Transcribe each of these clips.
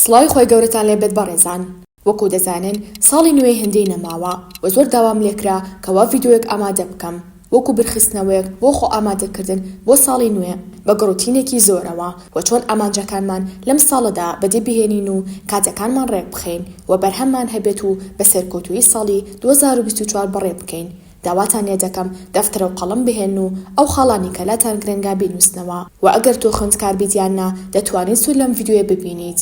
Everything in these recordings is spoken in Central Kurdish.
سڵاوی خوای گەورەتان لێ بێت بەڕێزان. وەکو دەزانن ساڵی نوێی هندی نەماوە وە زۆر داوام لێکرا کەوا ڤیدۆیەک ئامادە بکەم وەکو برخستنەوەیەک بۆ خۆ ئامادە کردن بۆ ساڵی نوێ بە گڕوتینێکی زۆرەوە وە چۆن ئامانجەکانمان لەم ساڵەدا بەدی بهێنین و کاتەکانمان ڕێک بخەین وە بەرهەممان هەبێت و بە سەرکەوتوویی ساڵی دوو هەزار و بیست و چوار بەڕێ بکەین داواتان لێ دەکەم دەفتەر و قەڵەم بهێنن و ئەو خاڵانەی کە لاتان گرنگە بینووسنەوە وە ئەگەر تۆ خوێندکار بیت یان نا دەتوانیت سوود لەم ڤیدیۆیە ببینیت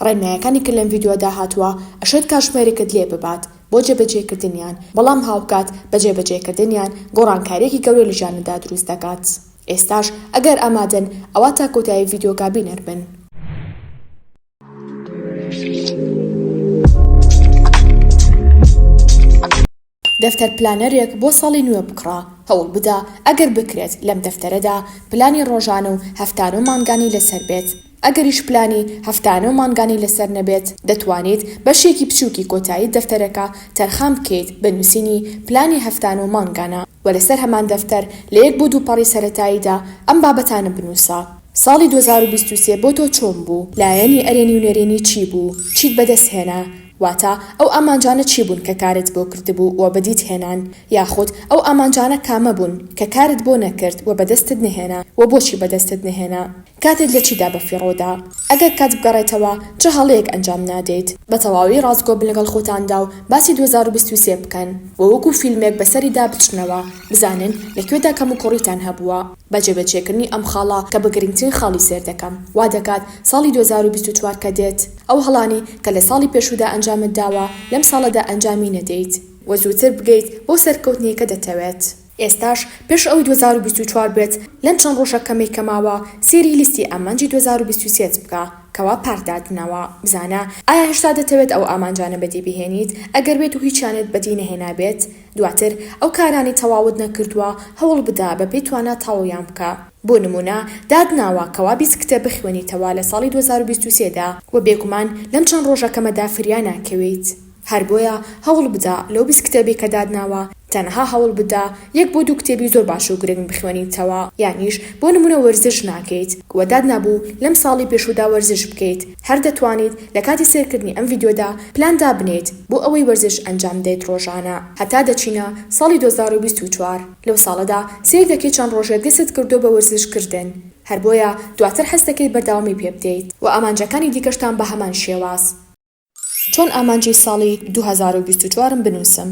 ڕێنمایەکانی کە لەم ڤیدیۆدا هاتووە ئەشێت کاتژمێرێکت لێ ببات بۆ جێبەجێکردنیان بەڵام هاوکات بە جێبەجێکردنیان گۆڕانکاریەکی گەورە لە ژیانتدا دروست دەکات ئێستاش ئەگەر ئامادەن ئەوا تا کۆتایی ڤیدیۆکە بینەر بن. دەفتەر پلانەرێک بۆ ساڵی نوێ بکڕە، هەوڵ بدە ئەگەر بکرێت لەم دەفتەرەدا پلانی ڕۆژانە و هەفتانە و مانگانی لەسەر بێت، ئەگەریش پلانی هەفتانە و مانگانی لەسەر نەبێت، دەتوانیت بەشێکی بچووکی کۆتایی دەفتەرەکە تەرخان بکەیت بە نووسینی پلانی هەفتانە و مانگانە و لەسەر هەمان دەفتەر لە یەک بۆ دوو پەڕی سەرەتاییدا ئەم بابەتانە بنووسە. ساڵی دوو هەزار و بیست و سێ بۆ تۆ چۆن بوو؟ لایەنی ئەرێنی و نەرێنی چی بوو؟ چیت بەدەست هێنا؟ واتە، ئەو ئامانجانە چی بوون کە کارت بۆ کردبوو و بەدیت هێنان؟ یاخود، ئەو ئامانجانە کامە بوون کە کارت بۆ نەکرد و بەدەستت نەهێنا و بۆچی بەدەستت نەهێنا؟ کاتت لە چیدا بەفیڕۆ دا؟ ئەگەر کات بگەڕێتەوە، چ هەڵەیەک ئەنجام نادەیت؟ بە تەواوی ڕاستگۆ بن لەگەڵ خۆتاندا و باسی دوو هەزار و بیست و سێ بکەن و وەکو فیلمێک بەسەریدا بچنەوە، بزانن لە کوێدا کەموکوڕیتان هەبووە. بە جێبەجێکردنی ئەم خاڵە کە بە گرنگترین خاڵی سەیر دەکەم، وا دەکات ساڵی دوو هەزار و بیست و چوار کە دێت، ئەو هەڵانەی کە لە ساڵی پێشوودا ئەنجامت داوە، لەم ساڵەدا ئەنجامی نەدەیت و زووتر بگەیت بەو سەرکەوتنەی کە دەتەوێت. ئێستاش پێش ئەوەی دوو هەزار و بیست و چوار بێت، لەم چەند ڕۆژە کەمەی کە ماوە، سەیری لیستی ئامانجی دوو هەزار و بیست و سێ ت بکە، کەوا پارت داتناوە، بزانە ئایا هێشتا دەتەوێت ئەو ئامانجانە بەدی بهێنیت، ئەگەر بێتو هیچیانت بەدی نەهێنابێت، دواتر ئەو کارانەی تەواوت نەکردووە هەوڵبدە بەپێی توانا تاویان بکە، بۆ نموونە داتناوە کەوا بیست کتێب بخوێنیتەوە لە ساڵی دوو هەزار و بیست و سێ دا، وە بێگومان لەم چەند ڕۆژە کەمەدا فریا ناکەویت، هەر بۆیە هەوڵبدە لەو بیست کتێبەی کە داتناوە تەنها هەوڵبدە یەک بۆ دوو کتێبی زۆر باش و گرنگ بخوێنیتەوە، یانیش بۆ نموونە وەرزش ناکەیت، وە داتنابوو لەم ساڵی پێشوودا وەرزش بکەیت، هەر دەتوانیت لە کاتی سەیرکردنی ئەم ڤیدیۆدا پلان دابنێیت بۆ ئەوەی وەرزش ئەنجام بدەیت ڕۆژانە هەتا دەچینە ساڵی دوو هەزار و بیست و چوار لەو ساڵەدا سەیر دەکەیت چەند ڕۆژێک دەستت کردووە بە وەرزش کردن هەر بۆیە دواتر حەز دەکەیت بەردەوامی پێ بدەیت وە ئامانجەکانی دیکەشتان بە هەمان شێواز. چۆن ئامانجی ساڵی دوو هەزار و بیست و چوار م بنووسم؟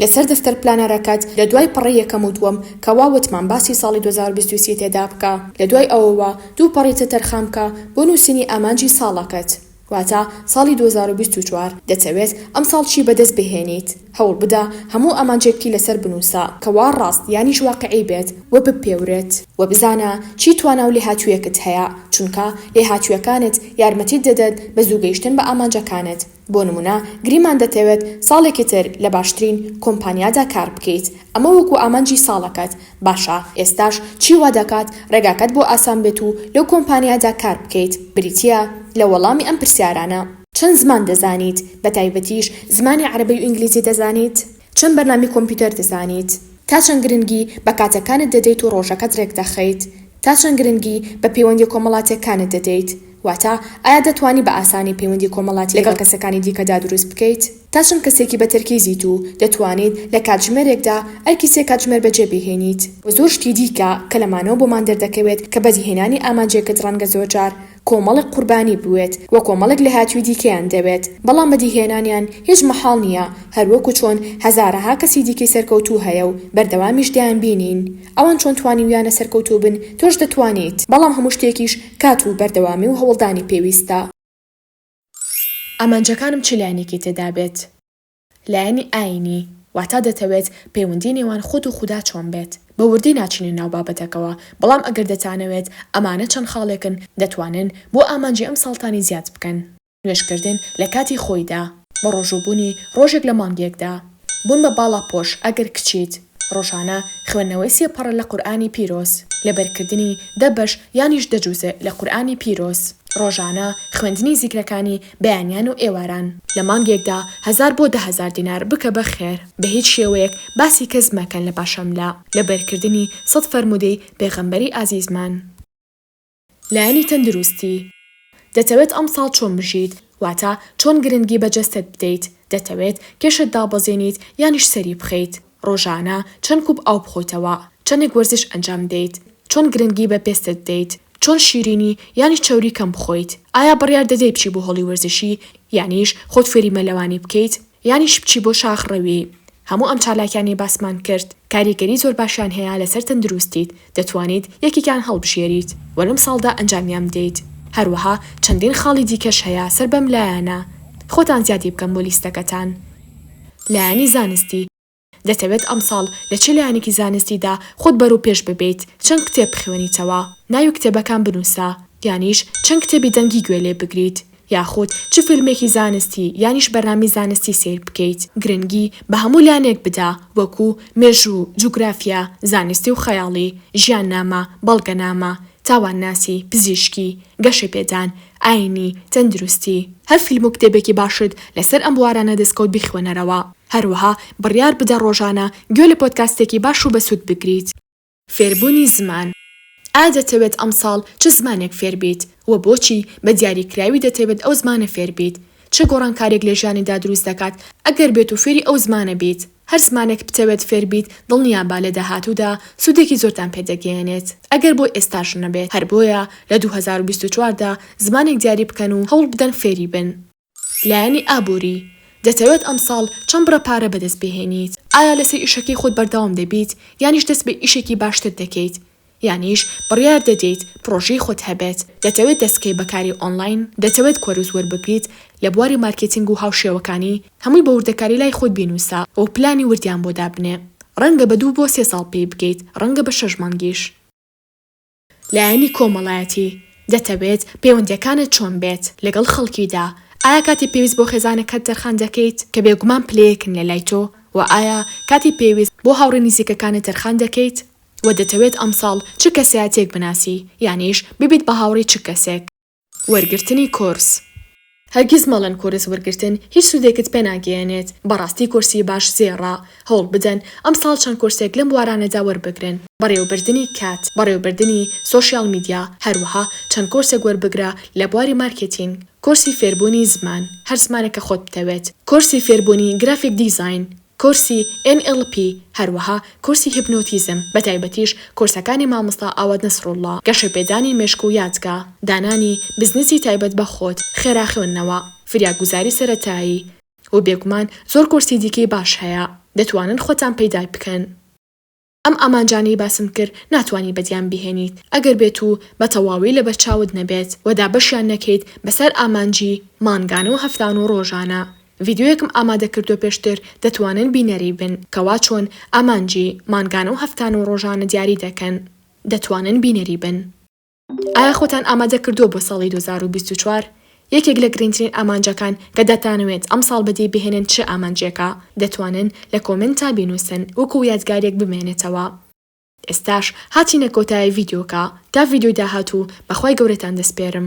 لەسەر دەفتەر پلانەرەکەت لە دوای پەڕەی یەکەم و دووەم کە وا وتمان باسی ساڵی دوو هەزار و بیست و سێ تێدا بکە لە دوای ئەوەوە دوو پەڕی تر تەرخان بکە بۆ نووسینی ئامانجی ساڵەکەت واتە ساڵی دوو هەزار و بیست و چوار دەتەوێت ئەمساڵ چی بەدەست بهێنیت هەوڵ بدە هەموو ئامانجێکتی لەسەر بنووسە کە وا ڕاست یانیش واقعی بێت و بپێورێت و بزانە چی توانا و لێهاتوویەکت هەیە چونکە لێهاتوویەکانت یارمەتیت دەدەن بە زوو گەیشتن بە ئامانجەکانت. بۆ نموونە گریمان دەتەوێت ساڵێکی تر لە باشترین کۆمپانیادا کار بکەیت، ئەمە وەکو ئامانجی ساڵەکەت، باشە ئێستاش چی وا دەکات ڕێگاکەت بۆ ئاسان بێت و لەو کۆمپانیادا کار بکەیت، بریتییە لە وەڵامی ئەم پرسیارانە. چەند زمان دەزانیت، بەتایبەتیش زمانی عەرەبی و ئینگلیزی دەزانیت؟ چەند بەرنامەی کۆمپیوتەر دەزانیت؟ تا چەند گرنگی بە کاتەکانت دەدەیت و ڕۆژەکەت ڕێکدەخەیت؟ تا چەند گرنگی بە پەیوەندییە کۆمەڵاتییەکانت دەدەیت؟ واتە ئایا دەتوانی بە ئاسانی پەیوەندی کۆمەڵاتی لەگەڵ کەسەکانی دیکەدا دروست بکەیت؟ تا چەند کەسێکی بە تەرکیزیت و دەتوانیت لە کاتژمێرێکدا ئەرکی سێ کاتژمێر بەجێ بهێنیت؟ و زۆر شتی دیکە کە لەمانەوە بۆمان دەردەکەوێت کە بەدیهێنانی ئامانجێکت ڕەنگە زۆرجار کۆمەڵێک قوربانی بوێت و کۆمەڵێک لێهاتووی دیکەیان دەوێت، بەڵام بەدیهێنانیان هیچ مەحاڵ نییە، هەروەکو چۆن هەزارەها کەسی دیکەی سەرکەوتوو هەیە و بەردەوامیش دەیانبینین. ئەوان چۆن توانیویانە سەرکەوتوو بن، تۆش دەتوانیت. بەڵام هەموو شتێکیش کات و بەردەوامی و هەوڵدانی پێویستە. ئامانجەکانم چ لایەنێکی تێدا بێت؟ لایەنی ئایینی، واتا دەتەوێت پەیوەندی نێوان خۆت و خودا چۆن بێت؟ بە وردی ناچینە ناو بابەتەکەوە، بەڵام ئەگەر دەتانەوێت، ئەمانە چەند خاڵێکن دەتوانن بۆ ئامانجی ئەم ساڵتانی زیاد بکەن. نوێژکردن لە کاتی خۆیدا. بەڕۆژووبوونی ڕۆژێک لە مانگێکدا. بوون بە باڵاپۆش ئەگەر کچیت. ڕۆژانە خوێندنەوەی سێ پەڕە لە قورئانی پیرۆز، لەبەرکردنی دە بەش یانیش دە جوزئ لە قورئانی پیرۆز، ڕۆژانە خوێندنی زیکرەکانی بەیانیان و ئێواران. لە مانگێکدا هەزار بۆ دە هەزار دینار بکە بە خێر، بە هیچ شێوەیەک باسی کەس مەکەن لە پاشەملە، لەبەرکردنی سەد فەرموودەی پێغەمبەری ئازیزمان. لایەنی تەندروستی، دەتەوێت ئەمساڵ چۆن بژیت، واتە چۆن گرنگی بە جەستەت بدەیت، دەتەوێت کێشت دابەزێنیت یانیش سەری بخەیت، ڕۆژانە چەند کوپ ئاو بخۆیتەوە، چەندێک وەرزش ئەنجام دەیت، چۆن گرنگی بە پێستت بدەیت، چۆن شیرینی یانیش چەوری کەم بخۆیت، ئایا بڕیار دەدەیت بچی بۆ هۆڵی وەرزشی یانیش خۆت فێری مەلەوانی بکەیت، یانیش بچی بۆ شاخ ڕەوی. هەموو ئەم چالاکیانەی باسمان کرد کاریگەری زۆر باشیان هەیە لەسەر تەندروستیت دەتوانیت یەکێکیان هەڵبژێریت وە لەم ساڵدا ئەنجامیان بدەیت هەروەها چەندین خاڵی دیکەش هەیە سەر بەم لایەنە خۆتان زیادی بکەن بۆ لیستەکەتان لایەنی زانستی دەتەوێت ئەمساڵ لە چ لایەنێکی زانستیدا خۆت بەرەوپێش ببەیت، چەند کتێب بخوێنیتەوە، ناوی کتێبەکان بنووسە، یانیش چەند کتێبی دەنگی گوێ لێ بگریت، یاخود چ فیلمێکی زانستی یانیش بەرنامەی زانستی سەیر بکەیت. گرنگی بە هەموو لایەنێک بدە، وەکو، مێژوو، جوگرافیا، زانستی و خەیاڵی، ژیاننامە، بەڵگەنامە، تاوانناسی، پزیشکی، گەشەپێدان، ئاینی، تەندروستی. هەر فیلم و کتێبێکی باشت لەسەر ئەم بوارانە دەستکەوت بیخوێنەرەوە. هەروەها بڕیار بدە ڕۆژانە گوێ لە پۆدکاستێکی باش و بەسوود بگریت. فێربوونی زمان. ئایا دەتەوێت ئەمساڵ چ زمانێک فێربیت؟ وە بۆچی؟ بە دیاریکراوی دەتەوێت ئەو زمانە فێربیت؟ چ گۆڕانکاریەک لە ژیانیدا دروست دەکات ئەگەر بێت و فێری ئەو زمانە بیت؟ هەر زمانێک بتەوێت فێر بیت دڵنیابە لە داهاتوودا سوودێکی زۆرتان پێ دەگەیەنێت ئەگەر بۆ ئێستاش نەبێت، هەر بۆیە لە دوو هەزار و بیست و چوار دا زمانێک دیاری بکەن و هەوڵ بدەن فێری بن. لایەنی ئابووری، دەتەوێت ئەمساڵ چەند بڕە پارە بەدەست بهێنیت؟ ئایا لەسەر ئیشەکەی خۆت بەردەوام دەبیت یانیش دەست بە ئیشێکی باشتر دەکەیت؟ یانیش بڕیار دەدەیت پڕۆژەی خۆت هەبێت، دەتەوێت دەستبکەیت بە کاری ئۆنلاین، دەتەوێت کۆرس وەربگریت لە بواری مارکێتینگ و هاوشێوەکانی، هەمووی بە وردەکاری لای خۆت بینووسە و پلانی وردیان بۆ دابنێ. ڕەنگە بە دوو بۆ سێ ساڵ پێی بگەیت، ڕەنگە بە شەش مانگیش. لایەنی کۆمەڵایەتی، دەتەوێت پەیوەندییەکانت چۆن بێت لەگەڵ خەڵکیدا؟ ئایا کاتی پێویست بۆ خێزانەکەت تەرخان دەکەیت، کە بێگومان پلەیەکن لەلای تۆ، وە ئایا کاتی پێویست بۆ هاوڕێ نیزیکەکانت تەرخان دەکەیت؟ وە دەتەوێت ئەمساڵ چ کەسایەتیەک بناسی یانیش ببیت بە هاوڕی چ کەسێک. وەرگرتنی کۆرس. هەرگیز مەڵێن کۆرس وەرگرتن هیچ سودێکت پێ ناگەیەنێت بەڕاستی کۆرسی باش زێڕە هەوڵ بدەن ئەمساڵ چەند کۆرسێک لەم بوارانەدا وەربگرن بەڕێوەبردنی کات بەڕێوەبردنی سۆشیاڵ میدیا هەروەها چەند کۆرسێک وەربگرە لە بواری مارکێتینگ کۆرسی فێربوونی زمان هەر زمانێک کە خۆت بتەوێت کۆرسی فێربوونی گرافیک دیزاین کۆرسی ئێن ئێڵ پی، هەروەها کۆرسی هیپنۆتیزم، بەتایبەتیش کۆرسەکانی مامۆستا ئاوات نەسروڵڵا، گەشەپێدانی مێشک و یادگە، دانانی بزنسی تایبەت بە خۆت، خێرا خوێندنەوە، فریاگوزاری سەرەتایی، و بێگومان زۆر کۆرسی دیکەی باش هەیە، دەتوانن خۆتان پەیدای بکەن. ئەم ئامانجانەی باسم کرد ناتوانی بەدیان بهێنیت ئەگەر بێت و بە تەواوی لەبەر چاوت نەبێت و دابەشیان نەکەیت بەسەر ئامانجی مانگانە و هەفتانە و ڕۆژانە. ڤیدیۆیەکم ئامادە کردووە پێشتر دەتوانن بینەری بن کە وا چۆن ئامانجی مانگانە و هەفتانە و ڕۆژانە دیاری دەکەن دەتوانن بینەری بن. ئایا خۆتان ئامادە کردووە بۆ ساڵی دوو هەزار و بیست و چوار؟ یەکێک لە گرنگترین ئامانجەکان کە دەتانەوێت ئەمساڵ بەدی بهێنن چ ئامانجێکە؟ دەتوانن لە کۆمێنتا بینووسن وەکو یادگارێک بمێنێتەوە. ئێستاش هاتینە کۆتایی ڤیدیۆکە، تا ڤیدیۆی داهاتوو بە خوای گەورەتان دەسپێرم.